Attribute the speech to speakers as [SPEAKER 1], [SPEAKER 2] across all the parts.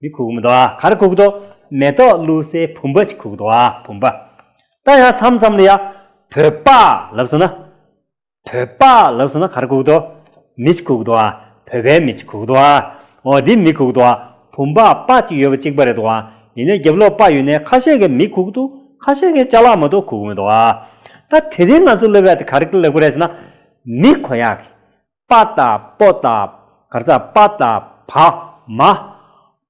[SPEAKER 1] མི་ཁུག་མི་དོག་གར་ཁུག་དོག། མེ་ཏོག་བླུག་སའི་བུམ་པ་ཅི་ཁུག་དོག་བུམ་པ། ད་ཡང་མཚམས་མཚམས་ལ་ཡང། བོད་པ། ལབ་སོང་ན། བོད་པ། ལབ་སོང་ན་གར་ཁུག་དོག། མི་ཅི་ཁུག་དོག། བོད་པའི་མི་ཅི་ཁུག་དོག། འོ་འདི་མི་ཁུག་དོག། བུམ་པ། པ་གཅིག་ཡོད་པ་གཅིག་པ་རེད་དོག། ཡིན་ནའི་རྒྱབ་ལོགས་པ་ཡོད་ནའི་ཁ་ཤས་ཀྱི་མི་ཁུག་དོག་ཁ་ཤས་ཀྱི་ལྕགས་ལག་མ་དོག་ཁུག་མི་དོག། ད་དེ་རིང་ང་ཚོ་སློབ་ཡག་དེ་ག་རེ་གི་ལེགས་པ་རེད་ཟེར་ན། མི་ཁོ་ཡག་གི། པ་དང་པོ་དང་གར་ཚ་པ་དང་བ་མ།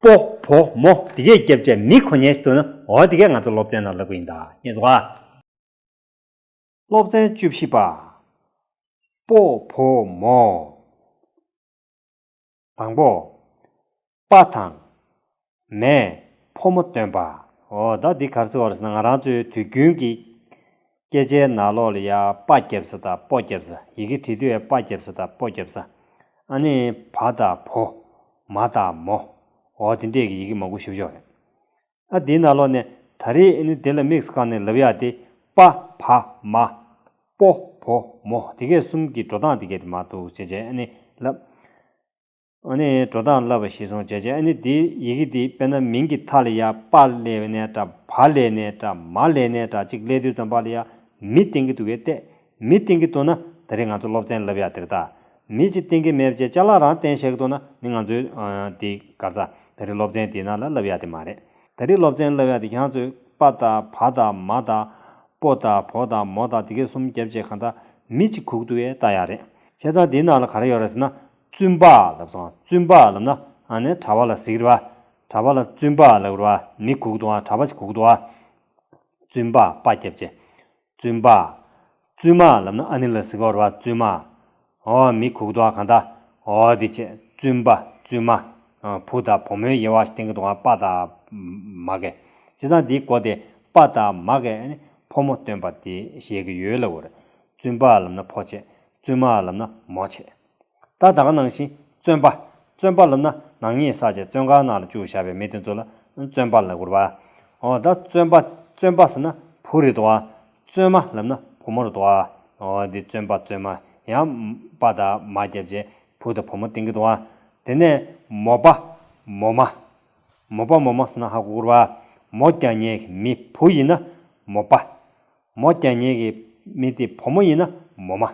[SPEAKER 1] པོ་བོ་མོ་དེ་གའི་སྐྱབས་བཅས་མི་གོ་ཉན་ཞིག་ཐུབ་ན་འོ་དེ་གས་ང་ཚོ་སློབ་ཚན་ནང་ལབ་གི་ཡིན་ད་ངས་བཟོ་ཨ། སློབ་ཚན་བཅུ་བཞི་པ། པོ་བོ་མོ། དང་པོ། པ་དང། མས་ཕོ་མོ་སྟོན་པ། འོ་ད་འདི་གར་ཚིག་བར་ས་ན་ང་རང་ཚོའི་དུས་རྒྱུན་གྱི་སྐད་ཆའི་ནང་ལོགས་ལ་ཡ་པ་རྒྱབ་ས་དང་པོ་རྒྱབ་ས་ཡི་གེ་བྲིས་དུས་ཨེ་པ་རྒྱབ་ས་དང་པོ་རྒྱབ་ས་ཨ་ནི་བ་དང་བོ། མ་དང་མོ། འོ་དེ་འདྲས་ཀྱི་ཡི་གེ་མང་པོ་ཞུགས་ཆོག་རེད། ཨ་དེའི་ན་ལོག་ནས་ད་རེས་ཨེ་ནུ་དེ་ལ་དམིགས་བཀང་ནས་ལབ་ཡ་དེ་པ་བ་མ། པོ་བོ་མོ་དེ་སྐད་གསུམ་གྱི་འགྲོ་སྟངས་དེ་སྐད་དེ་མ་འདུག་བྱས་བྱས་ཨེ་ནི་ལབ། ཨ་ནི་འགྲོ་སྟངས་ལབ་པ་ཤེས་སོང་བྱས་བྱས་ཨེ་ནི་དེ་ཡི་གེ་དེ་དཔེ་ན་མིང་གི་མཐའ་ལ་ཡ་པ་ལས་ནས་ཏྲ་བ་ལས་ནས་ཏྲ་མ་ལས་ནས་ཏྲ་གཅིག་ལས་དུས་ཙམ་པ་ལ་ཡ་མི་བསྟན་གི་འདུག་གས་ཏད་མི་བསྟེན་གི་འདུག་ན་ད་རེས་ང་ཚོ་སློབ་ཚན་ལབ་ཡག་དེར་བལྟ། མི་གཅིག་བསྟེན་གི་མེད་བཅས་བཅའ་ལག་རང་བསྟེན་བཤད་གི་འདུག་ན་མི་ང་ཚོའི་དེ་ག་ས་ད་རེས་སློབ་ཚན་དེ་ན་ལ་ལབ་ཡག་དེ་མ་རེད། ད་རེས་སློབ་ཚན་ལབ་ཡག་དེ་གྱང་ཚོས་པ་དང་བ་དང་མ་དང། པོ་དང་བོ་དང་མོ་དང་དེ་གས་གསུམ་བརྒྱབ་བཅས་གང་ལྟ་མི་གཅིག་ཁུག་ཏུ་ཡས་བལྟ་ཡག་རེད། བྱས་ཙང་དེ་ན་ལ་ག་རེ་ཡོད་རེད་ཟེར་ན་བཙུན་པ་ལབ་ཙང་བཙུན་པ་ལབ་ན་ཨ་ནས་གྲ་བ་ལ་ཟིག་རི་བ། གྲ་བ་ལ་བཙུན་པ་ལབ་རི་བ་མི་ཁུག་ཏུ་ཨ་གྲ་བ་ཅིག་ཁུག་ཏུ་ཨ། བཙུན་པ་པ་བརྒྱབ་བཅས། བཙུན་པ། བཙུན་མ་ལབ་ན་ཨ་ནི་ལ་ཟི་ག་བོར་བ་བཙུན་མ། འོ་མི་ཁུག་དོ་གང་དག་འོ་དེ་ཆེ་བཙུན་པ་བཙུན་མ། བུ་དང་བུ་མོའི་དབྱེ་བ་སྟེང་གི་དུ་བ་པ་དག་མ་ག་ཅི་ཚང་དེའི་གོ་དེ་པ་དག་མ་ག་ནི་ཕོ་མོ་སྟོན་པ་དེ་བཞེད་ཀྱི་ཡོད་ལབ་བོར་བཙུན་པ་ལབ་ན་ཕོ་ཆེ་བཙུན་མ་ལབ་ན་མོ་ཆེ། ད་དག་ནང་བཞིན་བརྩོན་པ། བརྩོན་པ་ལ་ན་ནག་ཉེས་བསགས་བྱས་བརྩོན་གང་ན་ལ་བཅུག་བཞག་པའི་མི་དེ་ཚོ་ལ་བརྩོན་པ་ལ་གུར་བ། འོ་ད་བརྩོན་པ། བརྩོན་པ་ཟེར་ན་བུ་རེད་དོ། བརྩོན་མ་ལབ་ན་བུ་མོ་རེད་དོ། འོ་འདི་བརྩོན་པ་བརྩོན་མ་ཡང་པ་དག་མ་བརྒྱབ་རྗེས་བུ་དང་བུ་མོ་བསྟེན་གི་དོ། དེ་ནས་མོ་པ། མོ་མ། མོ་པ་མོ་མ་ཟེར་ན་ཧ་གོ་གུར་བ། མོ་རྐྱང་ཉལ་གི་མི་བུ་ཡིན་ན་མོ་པ། མོ་རྐྱང་ཉལ་གི་མི་དེ་བུ་མོ་ཡིན་ན་མོ་མ།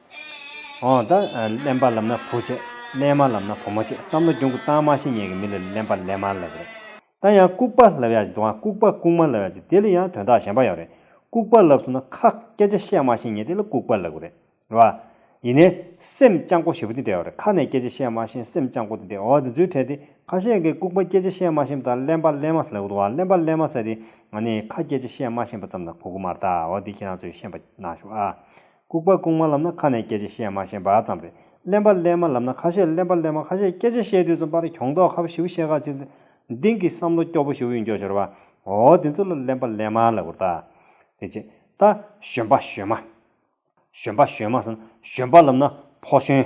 [SPEAKER 1] ཨོ། གླེན་པ་ལབ་ན་བུ་བྱེད། གླེན་མ་ལབ་ན་བུ་མོ་བྱེད་བསམ་བློ་གྱོང་གུད་གཏང་མ་ཤེས་ངེད་ཀྱི་མི་ལ་གླེན་པ་གླེན་མ་ལབ་རེད་ད་ཡང་ལྐུག་པ་ལབ་ཡག་བྱེད་དང་ལྐུག་པ་ལྐུག་མ་ལབ་ཡག་བྱེད་དེ་ལ་ཡང་དོན་དག་གཞན་པ་ཡོད་རེད་ལྐུག་པ་ལབ་སོང་ན་ཁ་སྐད་ཆ་བཤད་མ་ཤེས་ངེད་དེ་ལ་ལྐུག་པ་ལབ་གི་རེད་རེད་བ། ཡིན་ནའི། སེམས་བསྐྱང་སྒོ་ཞེ་བོ་དེ་འདྲ་ཡོད་རེད་ཁ་ནས་སྐད་ཆ་བཤད་མ་ཤེས་སེམས་བསྐྱང་སྒོ་དེ་འདྲ་ཡོད་དེ་ཚོའི་གྲས་དེ་ཁ་ཤས་ཀྱིས་ལྐུག་པ་སྐད་ཆ་བཤད་མ་ཤེས་པ་དང་གླེན་པ་གླེན་མ་ཟེར་ལབ་གི་འདུག་ཨ་གླེན་པ་གླེན་མ་ཟེར་དེ་ང་ནི་ཁ་སྐད་ཆ་བཤད་མ་ཤེས་པ་ཙམ་ལ་གོ་གི་མ་རེད་ད་འོ་དེ་ཁྱེད་རང་ཚོས་ཤེས་པ་གནང་ཞུ་ཨ། ལྐུགས་པ་ལྐུགས་མ་ལབ་ན་ཁ་ནས་སྐད་ཆ་བཤད་མ་ཤེས་པ་ཙམ་རེད། གླེན་པ་གླེན་མ་ལབ་ན་ཁ་ཤས་གླེན་པ་གླེན་མ་ཁ་ཤས་སྐད་ཆ་བཤད་དུས་ཙམ་པར་གྱོང་ལྡོག་ཁ་བཞི་བོ་ཤེས་ཁག་ཅིག་ལ། འདིང་གི་བསམ་བློ་སྐྱོ་པོ་ཞུ་ཡི་འགྱོ་ཤོར་བ། འོ་འོ་འདི་ཚོ་ལ་གླེན་པ་གླེན་མ་ལབ་གོ། ད་ཅེས་ད། བཞོན་པ་བཞོན་མ། བཞོན་པ་བཞོན་མ་ཟེར་ན་བཞོན་པ་ལབ་ན་ཕོ་བཞོན།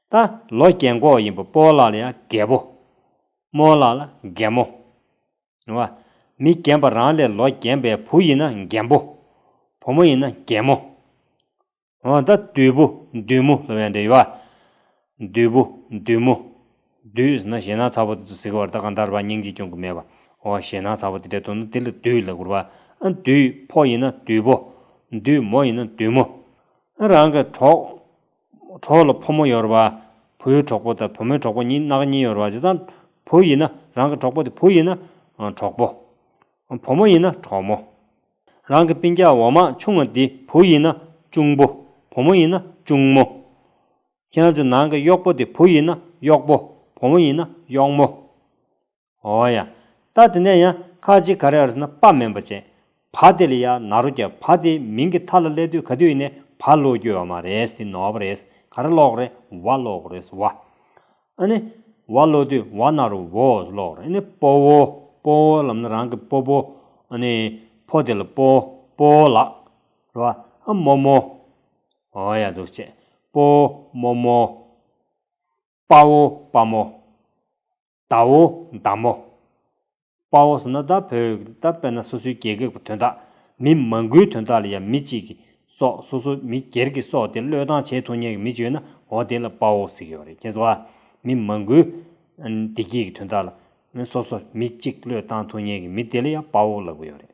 [SPEAKER 1] ད་ལོ་རྒན་འགོག་ཡིན་པོ་སྤོ་བོ་ལགས་ལ་ཡང་རྒས་པོ། རྨོ་བོ་ལགས་ལ་རྒན་མོ། རེད་བ། མི་རྒན་པ་རང་ལས་ལོ་རྒན་པའི་བུ་ཡིན་ན་རྒན་པོ། བུ་མོ་ཡིན་ན་རྒན་མོ། འོ་ད་བདུད་པོ་བདུད་མོ་ལ་བས་འདྲ་ཡོད་བ། བདུད་པོ་བདུད་མོ། བདུད་ཟེར་ན་ཞེད་སྣང་ཚ་བོ་དེ་ཚོ་ཟེར་གི་བར་ད་གང་ལྟར་བ་སྙིང་རྗེ་སྐྱོང་གི་མེད་པ་འོ་ཞེད་སྣང་ཚ་བོ་དེ་འདྲ་འདུག་ན་དེ་ལ་བདུད་ལ་བསྐུར་བ། ཨ་བདུད་ཕོ་ཡིན་ན་བདུད་པོ། བདུད་མོ་ཡིན་ན་བདུད་མོ། ཨ་རང་གི་གྲོགས། གྲོགས་ལ་ཕོ་མོ་ཡོར་བ། བུའི་གྲོགས་པོ་དང་བུ་མོའི་གྲོགས་པོ་གཉིས་ནག་གཉིས་ཡོར་བ་བྱས་ཙང། བུ་ཡིན་ན་རང་གི་གྲོགས་པོ་དེ་བུ་ཡིན་ན་གྲོགས་པོ། བུ་མོ་ཡིན་ན་གྲོགས་མོ། རང་གི་པིན་ཀྱག་འོ་མ་ཆུང་བ་དེ་བུ་ཡིན་ན་ཅུང་བུ། བུ་མོ་ཡིན་ན་ཅུང་མོ། ཁྱེད་རང་ཚོའི་ནང་གི་གཡོག་པོ་དེ་བུ་ཡིན་ན་གཡོག་པོ། བུ་མོ་ཡིན་ན་གཡོག་མོ། ཨོ་ཡ། ད་དེ་ནས་ཡང་ཁ་ཅིག་ག་རེ་ཨར་སི་ན་པ་མན་པ་ཅན། བ་དེ་ལ་ཡ་ན་རོ་རྒྱ་བ་དེའི་མིང་གི་ཐ་ལ་ལས་དུས་ག་དུས་ཡིན་ནས་བ་ལོ་རྒྱུ་བ་མ་རེ་སི་ནོ་བ་རེ་སི་ག་རེ་ལོག་རེ་བ་ལོག་རེ་སི་བ། ཨ་ནི། བ་ལོ་དུས་བ་ན་རོ་བོ་སི་ལོག་རེ་ཨ་ནི་པོ་བོ་པོ་བོ་ལམ་ན་རང་གི་པོ་བོ་ཨ་ནི། ཕོ་དེ་ལ་པོ་པོ་ལགས། རེ་བ་ཨ་མོ་མོ། ཨོ་ཡ་འདུག་ཅེས་པོ་མོ་མོ། པ་བོ་པ་མོ། དྭོ་བདག་མོ། དཔའ་བོ་ཟེར་ན་ད་བོད་ད་དཔེར་ན་སོ་སོའི་རྒྱལ་ཁག་གི་དོན་དག་མི་མང་གུའི་དོན་དག་ལ་ཡང་མི་གཅིག་གིས་སོགས་སོ་སོ་མི་སྒེར་གིས་སོགས་དེ་བློས་བཏང་བྱེད་ཐུབ་ཉེ་གི་མི་བྱོས་ན་འོ་དེ་ལ་དཔའ་བོ་ཟེར་གི་ཡོད་རེད་ཁྱེད་ཚོ་ཨ། མི་མང་གུའི་བདེ་སྐྱིད་ཀྱི་དོན་དག་ལ་སོ་སོ་མི་གཅིག་བློས་བཏང་ཐུབ་ཉེ་གི་མི་དེ་ལ་ཡང་དཔའ་བོ་ལབ་གི་ཡོད་རེད།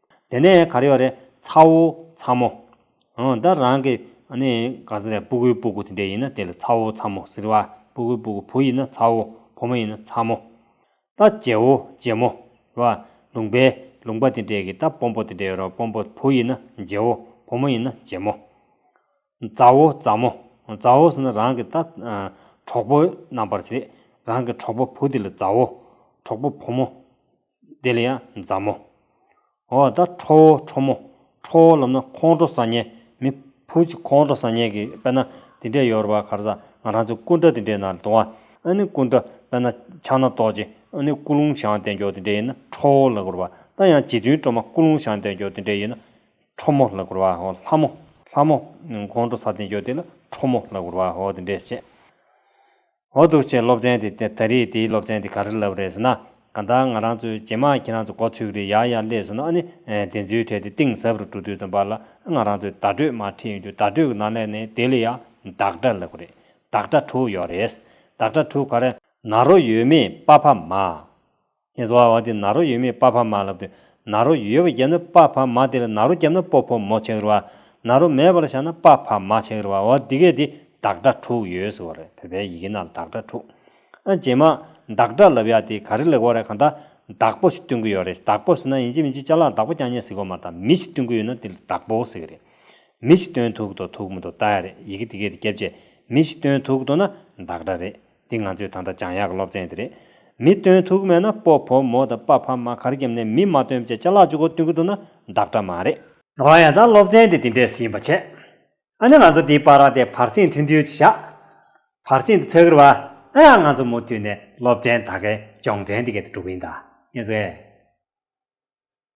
[SPEAKER 1] དེ་ནས་གར་ཡོག་རེད་ཚ་བོ་ཚ་མོ། འོན་ད་རང་གི་ནི་ག་ཟེ་རེད་སྤུ་གུའི་སྤུ་གུ་དེ་འདྲས་ཡིན་ན་དེ་ལ་ཚ་བོ་ཚ་མོ་ཟེར་བ་སྤུ་གུའི་སྤུ་གུ་བུ་ཡིན་ན་ཚ་བོ་བུ་མོ་ཡིན་ན་ཚ་མོ། ད་རྗེ་བོ་རྗེ་མོ། ར། ལུང་པའི་ལུང་པ་དེ་འདྲས་ཀྱི་ད་སྤོམ་པོ་དེ་འདྲས་ཡོད་རོགས་སྤོམ་པོ་བུ་ཡིན་ན་རྗེ་བོ་བུ་མོ་ཡིན་ན་རྗེ་མོ། མཛའ་བོ་མཛའ་མོ་མཛའ་བོ་ཟེར་ན་རང་གི་ད་གྲོགས་པོ་རྣམ་པར་བྱེད། རང་གི་གྲོགས་པོ་བུ་དེ་ལ་མཛའ་བོ། གྲོགས་པོ་བུ་མོ་དེ་ལ་ཡང་མཛའ་མོ། འོ་ད་ཁྲོ་བོ་ཁྲོ་མོ་ཁྲོ་བོ་ལབ་ན་ཁོང་ཁྲོ་ས་ཉལ་མི་བུ་གཅིག་ཁོང་ཁྲོ་ས་ཉལ་གི་དཔེར་ན་དེ་འདྲས་ཡོར་བ་གར་ས་ང་རང་ཚོའི་སྐུ་འདྲ་དེ་འདྲས་ན་དུང་བ་ཨ་ནི་སྐུ་འདྲ་དཔེར་ན་ཕྱག་ན་རྡོ་རྗེ་ཨ་ནི་སྐུ་རླུང་བྱང་བདེ་མཆོག་དེ་འདྲས་ཡིན་ན་ཁྲོ་བོ་ལ་གུར་བ་ད་ཡང་རྗེ་བཙུན་སྤྲོ་མ་སྐུ་རླུང་བྱང་བདེ་མཆོག་དེ་འདྲས་ཡིན་ན་ཁྲོ་མོ་ལ་བསྐོར་བའོ། ལྷ་མོ། ལྷ་མོ། ཁོང་ཁྲོ་ས་སྟེང་སྐྱོ་དེ་ལ་ཁྲོ་མོ་ལ་བསྐོར་བའོ་དེ་འདྲས་བྱས། འོ་འདུག་ཅེས་སློབ་ཚན་དེ་ད་རེས་དེའི་སློབ་ཚན་དེ་ག་རེ་ལབ་རེད་ཟེར་ན། གང་ལྟར་ང་རང་ཚོའི་ཇེ་མང་ཁྱེད་རང་ཚོ་གོ་ཐུབ་རེད་ཡག་ཡག་ལས་ཟེར་ནོ་ཨ་ནི། དེ་ཚོའི་གྲས་དེ་གཏིང་ཟབ་རུ་འགྲོ་དུས་ཙམ་པ་ལ་ང་རང་ཚོའི་བརྡ་སྤྲོད་མ་ཁྲིད་ཡོང་རྒྱུ་བརྡ་སྤྲོད་ཀྱི་ནང་ལས་ནས་དེ་ལ་ཡང་བདག་སྒྲ་ལབ་གི་རེད། བདག་སྒྲ་དྲུག་ཡོད་རེད། བདག་སྒྲ་དྲུག་ག་རེ། ན་རོ་ཡོད་མེད་དཔའ་ཕ་མ། ངེས་བཟའ་བ་དེ་ནཱ་རོ་ཡོད་མེད་དཔའ་ཕ་མ་ལ་བསྟོད། ནཱ་རོ་ཡོད་བ་བརྒྱབ་ན་དཔའ་ཕ་མ་དེ་ལ་ནཱ་རོ་བརྒྱབ་ན་སྤོ་ཕོ་མོ་ཆགས་རི་བ། ནཱ་རོ་མེད་པ་ལ་བཞག་ན་དཔའ་ཕ་མ་ཆགས་རི་བ་འོ་འདི་གས་འདི་བདག་སྒྲ་དྲུག་ཡོད་ཟེར་བ་རེད་བོད་པའི་ཡི་གེ་ནང་བདག་སྒྲ་དྲུག་ཨ་རྗེས་མ་བདག་སྒྲ་ལབ་ཡག་དེ་ག་རེ་ལེགས་བོ་རེད་གང་ལྟ་བདག་པོ་ཞིག་སྟོན་གི་ཡོད་རེད་བདག་པོ་ཟེར་ན་ཡིན་གཅིག་མིན་གཅིག་བཅའ་ལག་བདག་པོ་རྐྱང་རྐྱང་ཟེར་དགོས་མ་རེད་མི་ཞིག་སྟོན་གི་ཡོད་ན་དེ་ལ་བདག་པོ་ཟེར་གི་རེད་མི་ཞིག་སྟོན་ཐུག་གི་འདུག་ཐུག་མི་འདུག་བལྟ་ཡག་རེད་ཡི་གེ་འདི་གས་འདི་བརྒྱབ་རྗེས་མི་ཞིག་སྟོན་ཐུག་གི་འདུག་ན་བདག་སྒྲ་རེད། འདི་ང་ཚོའི་ད་ལྟ་བྱང་ཡག་གི་སློབ་ཚན་དེ་རེད། མི་སྟོན་ཐུག་མེད་ན་སྤོ་བོ་མོ་དང་པ་ཕ་མ་གར་འགྱམ་ནས་མི་མ་སྟོན་བཅས་བཅའ་ལག་བཅུ་གོ་བསྟུན་གི་འདུག་ན་བདག་འདྲ་མ་རེད། རང་ཡང་ད་སློབ་ཚན་དེ་འདི་འདྲས་ཟིན་པ་བྱས། ཨ་ནི་ང་ཚོ་འདིའི་པ་ར་དེ་བར་སེང་ཐུན་དུས་ཀྱི་ཞག། བར་སེང་དུ་ཚོད་ཀྱི་ར། ཨ་ཡ་ང་ཚོ་མུ་མཐུད་ནས་སློབ་ཚན་ད་གའི་སྦྱོང་ཚན་འདི་གའི་དུ་འགྲོ་གི་ཡིན་ད། ངེས་ཚོད།